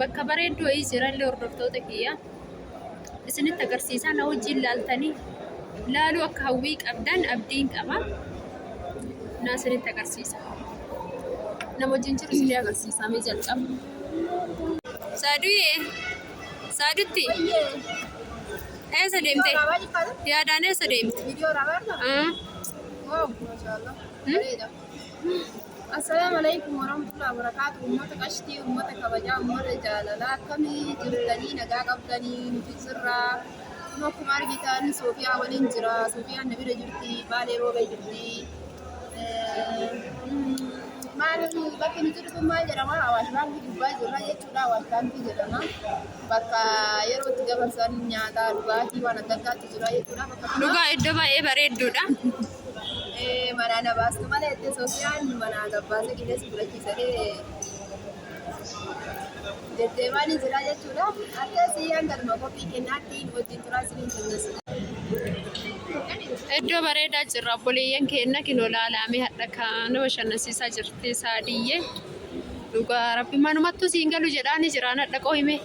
Bakka bareedduu wayii jirallee hordoftoota kiyya isinitti agarsiisaa na wajjin laaltanii laaluu akka hawwii qabdan abdiin qaba. Na isinitti agarsiisa. Nama wajjin jiru isinii agarsiisaa mee jalqaba. Saaduyee, saadutti eessa deemte? Yaadaan eessa deemte? Ah, hmm? Assalaamu Aleykum Warahmatullahi Wabarakaatu Ummata Qashtii Ummata Kabajaa Ummata Jaalalaa Akkamii jirtanii nagaa qabdanii nuti jirra Kun akkuma argitan Soofiyaa waliin jira Soofiyaan na bira jirti Baalee Roobee jirti maal bakki nu jirtu maal jedhama Awaash Baankii gubbaa jirra jechuudha Awaash Baankii jedhama bakka yeroo itti dabarsan nyaataa dhugaatii waan adda addaatu jira jechuudha bakka dhugaa iddoo baay'ee bareedduudha. Manaa na baastu malee itti Sofiyaan manaa gabbaasa qilee si fudhachiisanii deddeemaanii jiraa jechuudha. Akka siyyaan galma kophii kennaatti wajjin turaa isiniin jennas. Iddoo bareedaa jirra obboleeyyan keenna kinoo laalaamee hadha kaan nama shannansiisaa jirti saadiyyee dhugaa rabbi manumattuu siin galu jedhaani jiraan hadha qoohime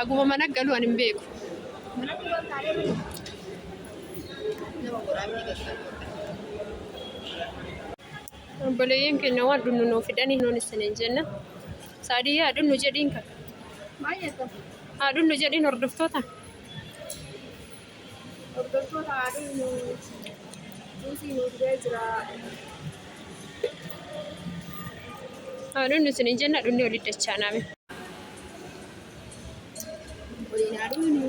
haguma mana galu an hin beeku. Nama waraabni gaggabaa. Obboleeyyan keenya waan dhunnu nuu fidanii nuun isiniin jenna. Saadiyyaa haa dhunnu jedhiin kan. Baay'ee kan. Haa dhunnu jedhiin hordoftoota. Hordoftoota haa dhunnu. Juusii nuu fidee jira. Haa dhunnu isiniin jenna dhunni olii dachaanaame. Waliin haa dhunnu.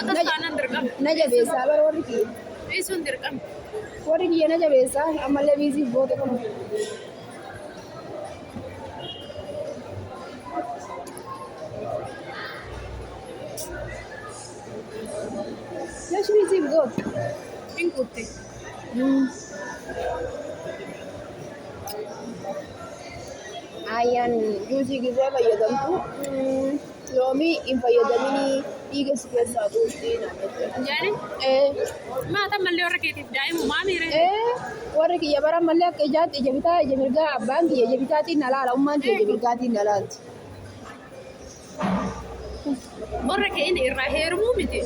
Akkas taanaan dirqama. Na jabeessaa bara warri kiyya. Dhiisuun dirqama. Warri kiyya na jabeessaa ammallee biiziif boote kun. Yash biiziif goote. Hin kuutte. Ayyaan juusii gizee fayyadamtu mm, loomii hin fayyadaminii dhiiga si keessaa buustii naan jette. Jaani? Ee, Maata mallee warra keetiif daa'imu maa miire? ee, warri kiyya bara ammallee akka ijaatti ija bitaa ija mirgaa abbaan kiyya ija bitaatiin na laala ummaan kiyya ija mirgaatiin na laalti. Warra keenya irraa heerumuu miti.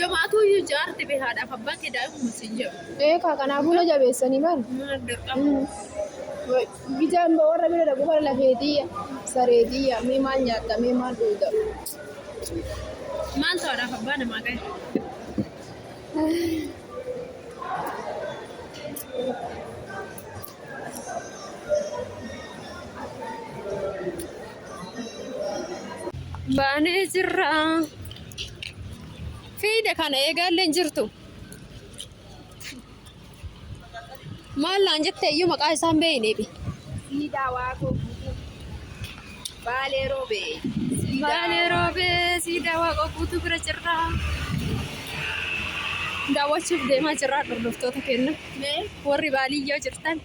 Yomaatuu iyyuu jaarti bee haadhaaf abbaan kee daa'imuma siin jedhu. Eekaa kanaafuu na jabeessanii bar. Maal dirqama? Bijaan ba warra bira dhaqu bara lafeetiyya sareetiyya mee maal nyaatta mee maal dhuuta. Maaltu haadhaaf abbaa namaa gahe? baanee jirra fiide kana eegaallee hin jirtu maal naan jette iyyuu maqaa isaan beeyneebi Ni daawaa koo. Baalee roobee. Baalee roobee siidaa waaqa guutuu bira jirra. Daawwachuuf deemaa jirra hordoftoota keenya. Mee warri baaliyyoo jirtan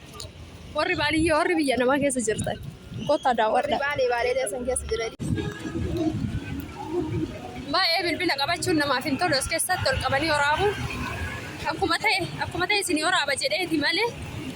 warri baaliyyoo warri biyya namaa keessa jirtan kottaa daawwadha. Baalee baalee deesan keessa jiran. Baay'ee bilbila qabachuun namaaf hin tolu as keessatti ol qabanii waraabuun akkuma ta'e akkuma ta'e isin waraaba jedheeti malee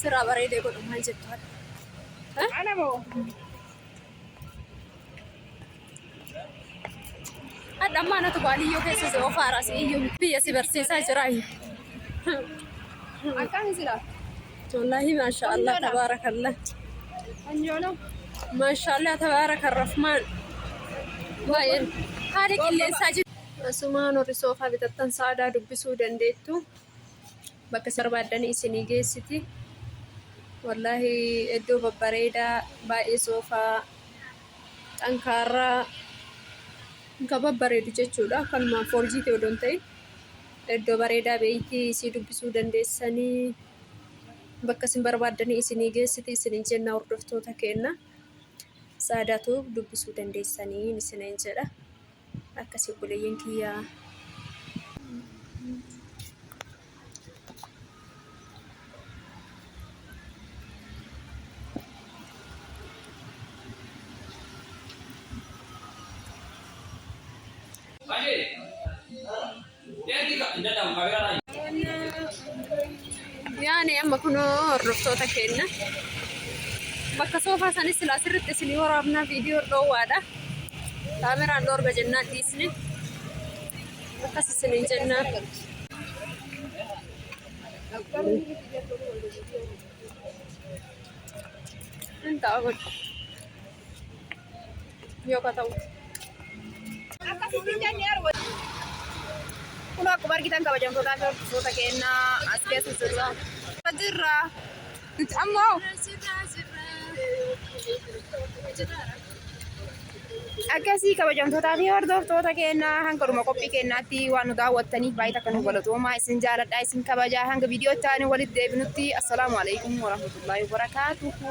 Sirraa bareedee godhu maal jettu? Ana moo? Hadha ammaa natu baaliyyoo keessa si ofaara si iyyuu biyya si barsiisaa jira. Akkami jira? Wallaahi maasha Allah tabaarakallah. Anjoolo. Maasha Allah tabaarakan Rahmaan. Baay'een haala qilleensaa jiru. Asumaan warri soofaa bitattan sa'aadaa dubbisuu dandeettu. Bakka isin barbaaddanii isinii geessiti. Wallaahi iddoo babbareedaa baay'ee soofaa xankaarraa kan babbareedu jechuudha. Akkanuma foorjiitii odoo hin ta'in iddoo bareedaa beeyti isii dubbisuu dandeessanii bakka isin barbaaddanii isinii geessiti isiniin jenna hordoftoota keenna. Saadaatu dubbisuu dandeessanii isiniin jedha. Akkasii obboleeyyan kiyyaa. Yaani amma kunoo hordoftoota keenya bakka soofaa sanis silaa sirriitti isinii waraabnaa viidiyoo dhoowwaadha. Kaameraan dhoorga jennaan dhiisne. Akkas isin hin jennaa. Hin ta'a kun. Yoo ka ta'u. Kun akkuma argitan kabajamtootaa fi hordoftoota keenyaa as keessa jirra. Jirra. Nuti amma hoo akkasii kabajamtootaa fi hordoftoota keenyaa hanga dhuma qophii keenyaatti waan nu daawwattaniif baay'ee takka nu galatoomaa isin jaaladhaa isin kabajaa hanga viidiyoo itti aanu walitti deebinutti assalaamu alaikum warahmatullaahi wabarakaatuhu.